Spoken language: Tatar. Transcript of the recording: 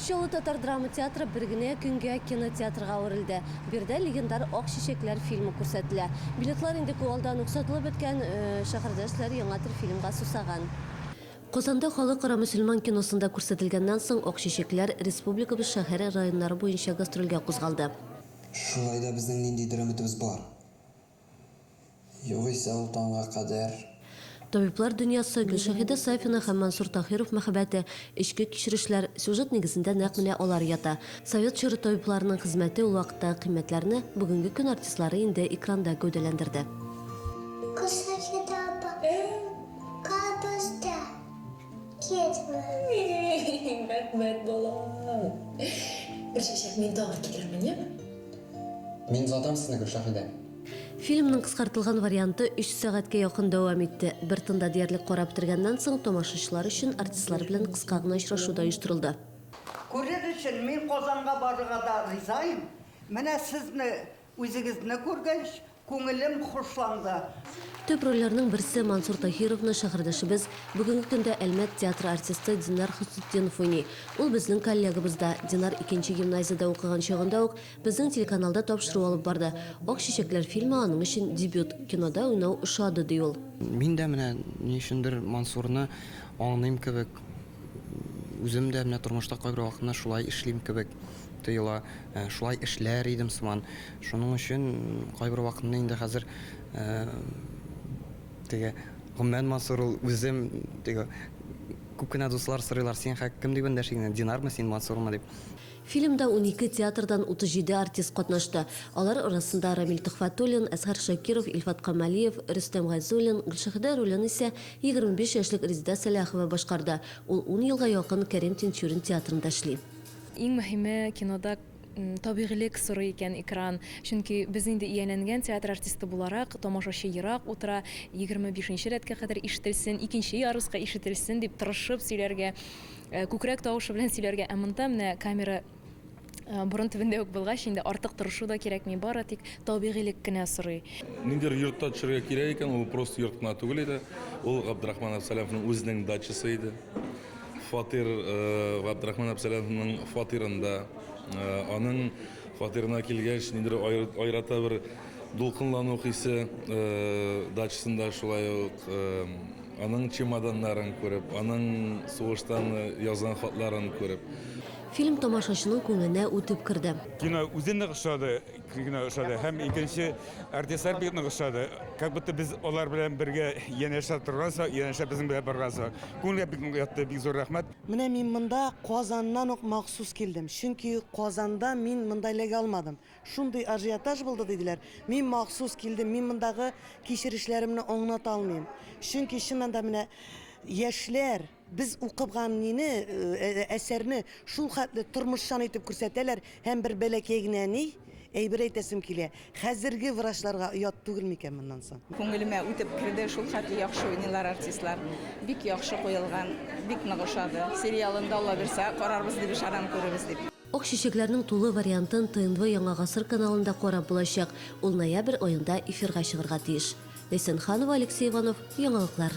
Чаллы татар драма театры бер генә көнгә кинотеатрга әверелде. Биредә легендар Ак чәчәкләр фильмы күрсәтелә. Билетлар инде күп алдан ук сатылып беткән. Шәһәрдәшләр яңа төр фильмга сусаган. Казанда Халыкара мөселман киносында күрсәтелгәннән соң, Ак чәчәкләр республикабыз шәһәр, районнары буенча гастрольгә кузгалды. Шулай да безнең ниндидер өметебез бар. Югыйсә ул таңга кадәр. Табиблар дөньясы, Гөлшәһидә Сафина һәм Мансур Таһиров мәхәббәте, эчке кичерешләр, сюжет нигезендә нәкъ менә алар ята. Совет чоры табибларының хезмәте ул вакыттагы кыйммәтләрне бүгенге көн артистлары инде экранда гәүдәләндерде. Гөлшәһидә апа, кабызда китмә. Рәхмәт, балам. Бер чәчәк мин тагы китерермен, яме? Мин озатам сезне, Гөлшаһидә! Фильмның кыскартылган варианты өч сәгатькә якын дәвам итте. Бер тында диярлек карап бетергәннән соң, тамашачылар өчен артистлар белән кыска гына очрашу да оештырылды. Күрер өчен мин Казанга барырга да риза им. Менә сезне үзегезне күргәч, Күңелем хушланды. Төп рольләрнең берсе Мансур Таһировны шәһәрдәшебез, бүгенге көндә Әлмәт театры артисты Динар Хөснетдинов уйный. Ул безнең коллегабыз да. Динар икенче гимназиядә укыган чагында ук безнең телеканалда тапшыру алып барды. Ак чәчәкләр фильмы аның өчен дебют. Кинода уйнау ошады, ди ул. Мин дә менә ни өчендер Мансурны аңлыйм кебек. Үзем дә менә тормышта кайбер вакытны шулай эшлим кебек тоела. Шулай эшләр идем сыман. Шуның өчен кайбер вакытны инде хәзер теге Гоммән Мансур ул үзем теге күп кенә дуслар сорыйлар, син хәк кем дип эндәши генә, Динармы син, Мансурмы дип. Фильмда унике театрдан 37 артист катнашты. Алар арасында Рамил Төхфәтуллин, Әсгар Шакиров, Илфат Камалиев, Рөстәм Гайзуллин, Гөлшәһидә ролен исә 25 яшьлек Резеда Сәләхова башкарды, ул ун елга якын Кәрим Тинчурин театрында эшли. Иң мөһиме, кинода табигыйлек сорый икән экран, чөнки без инде ияләнгән театр артисты буларак, тамашачы ерак утыра, егерме бишенче рәткә кадәр ишетелсен, икенче ярыска ишетелсен дип тырышып сөйләргә Э, күкрәк тавышы белән сөйләргә, ә монда менә камера э, борын төбендә үк булгач, инде артык тырышу да кирәкми, бары тик табигыйлек кенә сорый. Ниндидер йортта төшергә кирәк икән, ул просто йорт кына түгел иде. Ул Габдрахман Абсалямовның үзенең дачасы иде. Фатир э, Габдрахман Абсалямовның фатирында, аның фатирына килгәч, ниндидер айрата бер дулкынлану хисе дачасында шулай ук Аның чемоданнарын күреп, аның сугыштан язган хатларын күреп. Фильм тамашачының күңеленә үтеп керде. Кино үзе нык ошады, кино ошады һәм икенче артистлар бик нык ошады. Как будто без алар белән бергә янәшә торгансак, янәшә безнең белән баргансак. Күңелгә бик нык ятты, бик зур рәхмәт. Менә мин монда Казаннан ук махсус килдем, чөнки Казанда мин монда эләгә алмадым. Шундый ажиотаж булды, диделәр. Мин махсус килдем, мин мондагы кичерешләремне аңлата алмыйм. Чөнки чыннан да менә яшьләр без укыган нине, әсәрне шул хәтле тормышчан итеп күрсәтәләр һәм бер бәләкәй генә ни әйбер әйтәсем килә, хәзерге врачларга оят түгел микән моннан соң? Күңелемә үтеп керде, шул хәтле яхшы уйныйлар артистлар. Бик яхшы куелган, бик нык ошады. Сериалын да алаберсә карарбыз дип ышанам, күрербез дип. Ак чәчәкләрнең тулы вариантын ТНВ Яңа гасыр каналында карап булачак, ул ноябрь аенда эфирга чыгарга тиеш. Ләйсән Ханова, Алексей Иванов, Яңалыклар.